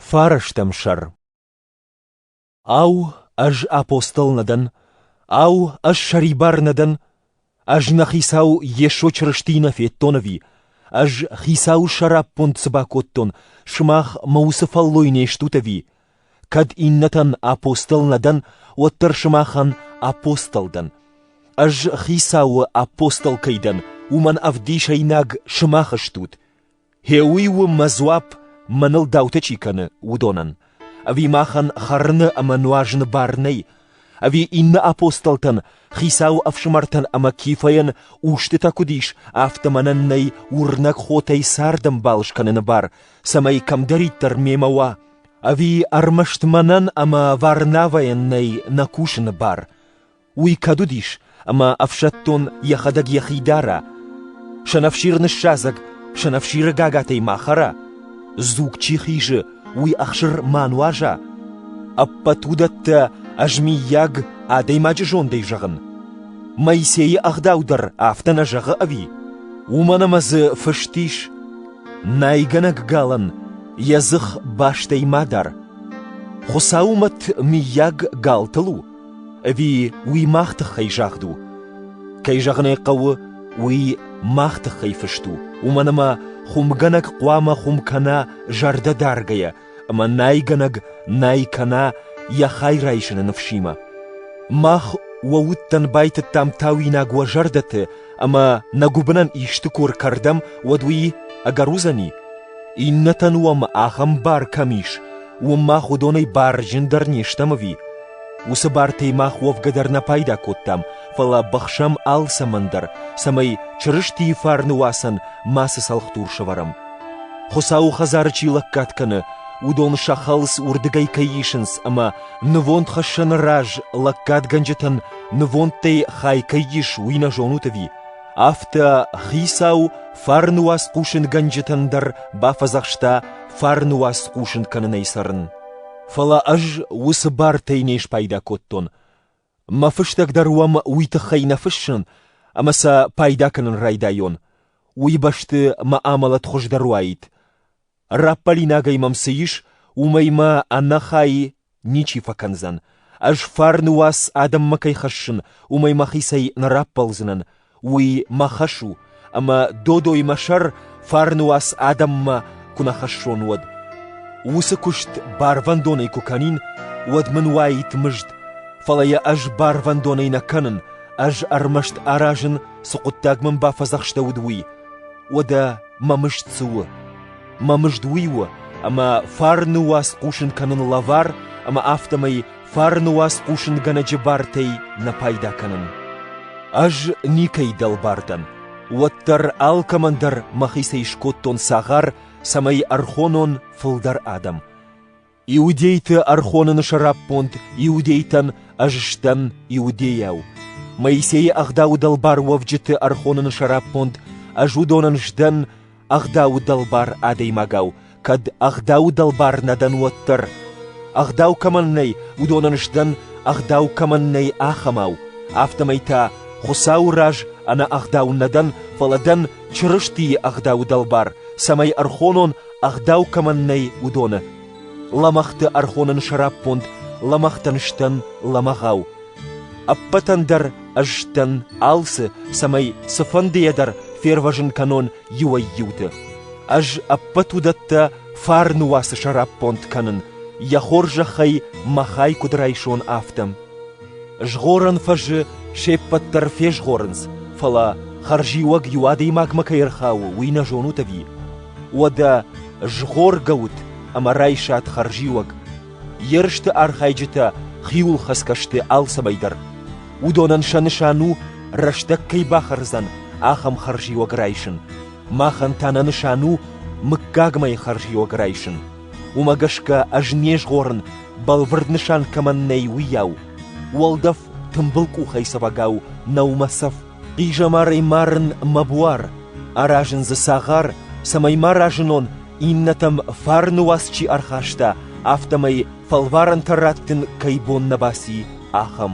Фӕрӕстӕм сӕр. Ау, ӕз апостол нӕ дӕн? Ау, ӕз сӕрибар нӕ дӕн? Ӕз нӕ Хицау Йесо Чырыстийы нӕ федтон ӕви? Ӕз Хицауы сӕраппонд цы бакодтон, сымах мӕ уыцы фӕллой не стут ӕви? Кӕд иннӕтӕн апостол нӕ дӕн, уӕддӕр сымахӕн апостол дӕн. Ӕз Хицауы апостол кӕй дӕн, уымӕн ӕвдисӕйнаг сымах стут. Гъеуый у мӕ дзуапп мӕныл даутӕ чи кӕны, уыдонӕн. Ӕви махӕн хӕрыны ӕмӕ нуазыны бар нӕй? Ӕви иннӕ апостолтӕн, Хицауы ӕфсымӕртӕн ӕмӕ Кифӕйӕн устытӕ куыд ис, афтӕ мӕнӕн нӕй уырнӕг хотӕй цардӕмбал скӕныны бар, цӕмӕй кӕмдӕриддӕр мемӕ уа, ӕви ӕрмӕст мӕнӕн ӕмӕ Варнавӕйӕн нӕй нӕ кусыны бар? Уый кӕд уыдис, ӕмӕ ӕфсӕддон йӕхӕдӕг йӕхи дара, сӕнӕфсир ныссадзӕг сӕнӕфсиры гагатӕй ма хӕра, дзуг чи хизы, уый ӕхсыр ма нуаза, ӕппӕт уыдӕттӕ ӕз, миййаг, адӕймаджы зондӕй зӕгъын. Моисейы ӕгъдау дӕр афтӕ нӕ зӕгъы ӕви? Уымӕн ӕмӕ дзы фыст ис: «Найгӕнӕг галӕн йӕ дзых бастӕй ма дар». Хуыцауы мӕт, миййаг, галтыл у? Ӕви уый мах тыххӕй загъд у? Кӕй зӕгъын ӕй хъӕуы, уый мах тыххӕй фыст у, уымӕн ӕмӕ хуымгӕнӕг хъуамӕ хуым кӕна зӕрдӕ даргӕйӕ, ӕмӕ найгӕнӕг най кӕна йӕ хай райсыны ныфсимӕ. Мах уӕ удтӕн байтыдтам тауинаг уӕ зӕрдӕты, ӕмӕ нӕ гуыбынӕн исты куы ркӕрдӕм, уӕд уый ӕгӕр уыдзӕни? Иннӕтӕн уӕм ахӕм бар кӕм ис, Уым мах уыдонӕй бар зындӕр не стӕм ӕви? Уыцы бартӕй мах уӕвгӕ дӕр нӕ пайда кодтам, фӕлӕ бӕхсӕм алцӕмӕн дӕр, цӕмӕй Чырыстийы фарны уацӕн мацы цӕлхдур сӕвӕрӕм. Хуыцауы хӕдзары чи лӕггад кӕны, уыдон сӕ хӕлц уырдыгӕй кӕй исынц ӕмӕ нывондхӕссӕны раз лӕггадгӕнджытӕн нывондтӕй хай кӕй ис, уый нӕ зонут ӕви? Афтӕ хицау фарны уац хъусынгӕнджытӕн дӕр бафӕдзӕхста фарны уац хъусын кӕнынӕй цӕрын. Фӕлӕ ӕз уыцы бартӕй не спайда кодтон. Мӕ фыстӕг дӕр уӕм уый тыххӕй нӕ фыссын, ӕмӕ сӕ пайда кӕнын райдайон. Уый бӕсты мӕ амӕлӕт хуыздӕр уаид. Раппӕлинагӕй мӕм цы ис, уымӕй мӕ ӕнӕхай ничи фӕкӕндзӕн. Ӕз фарны уац адӕммӕ кӕй хӕссын, уымӕй мӕхицӕй нӕ раппӕлдзынӕн. Уый мӕ хӕс у, ӕмӕ додой мӕ сӕр фарны уац адӕммӕ куы нӕ хӕссон, уӕд. Уыцы куыст барвӕндонӕй куы кӕнин, уӕд мын уаид мызд, фӕлӕ йӕ ӕз барвӕндонӕй нӕ кӕнын, ӕз ӕрмӕст аразын, цы хъуыддаг мӕм бафӕдзӕхстӕуыд, уый. Уӕдӕ Мӕ мызд цы у? Мӕ мызд уый у, ӕмӕ фарны уац хъусын кӕнын лӕвар ӕмӕ афтӕмӕй фарны уац хъусынгӕнӕджы бартӕй нӕ пайда кӕнын. Ӕз никӕй дӕлбар дӕн, уӕддӕр алкӕмӕн дӕр мӕхицӕй скодтон цагъар, цӕмӕй ӕрхонон фылдӕр адӕм. Иудейты ӕрхоныны сӕраппонд иудейтӕн ӕз сдӕн иудейау. Моисейы ӕгъдауы дӕлбар уӕвджыты ӕрхоныны сӕраппонд ӕз уыдонӕн сдӕн ӕгъдауы дӕлбар адӕймагау, кӕд ӕгъдауы дӕлбар нӕ дӕн, уӕддӕр. Ӕгъдау кӕмӕн нӕй, уыдонӕн сдӕн ӕгъдау кӕмӕн нӕй, ахӕмау, афтӕмӕй та Хуыцауы раз ӕнӕ ӕгъдау нӕ дӕн, фӕлӕ дӕн Чырыстийы ӕгъдауы дӕлбар, цӕмӕй ӕрхонон ӕгъдау кӕмӕн нӕй, уыдоны. Лӕмӕгъты ӕрхонын сӕраппонд лӕмӕгътӕн сдӕн лӕмӕгъау. Ӕппӕтӕн дӕр ӕз дӕн алцы, цӕмӕй цыфӕндыйӕ дӕр фервӕзын кӕнон иуӕй-иуты. Ӕз ӕппӕт уыдӕттӕ фарны уацы сӕраппонд кӕнын, йӕ хорзӕхӕй мӕ хай куыд райсон, афтӕ. Згъорӕн фӕзы се ппӕт дӕр фезгъорынц, фӕлӕ хӕрзиуӕг иу адӕймагмӕ кӕй ӕрхауы, уый нӕ зонут ӕви? Уӕдӕ згъоргӕ ут ӕмӕ райсат хӕрзиуӕг. Ерысты архайджытӕ хиуылхӕцгӕ сты алцӕмӕй дӕр. Уыдонӕн сӕ нысан у, рӕстӕг кӕй бахӕрдзӕн, ахӕм хӕрзиуӕг райсын. Махӕн та нӕ нысан у мыггагмӕ хӕрзиуӕг райсын. Уымӕ гӕсгӕ ӕз не згъорын, бӕлвырд нысан кӕмӕн нӕй, уыйау. Уӕлдӕф тымбыл къухӕйцӕвӕгау нӕу мӕ цӕф, Хъизӕмарӕй марын мӕ буар, аразын дзы цагъар, цӕмӕй ма разынон иннӕтӕм фарны уац чи ӕрхаста, афтӕмӕй фӕлварӕнтӕ раттын кӕй бон нӕ баци, ахӕм.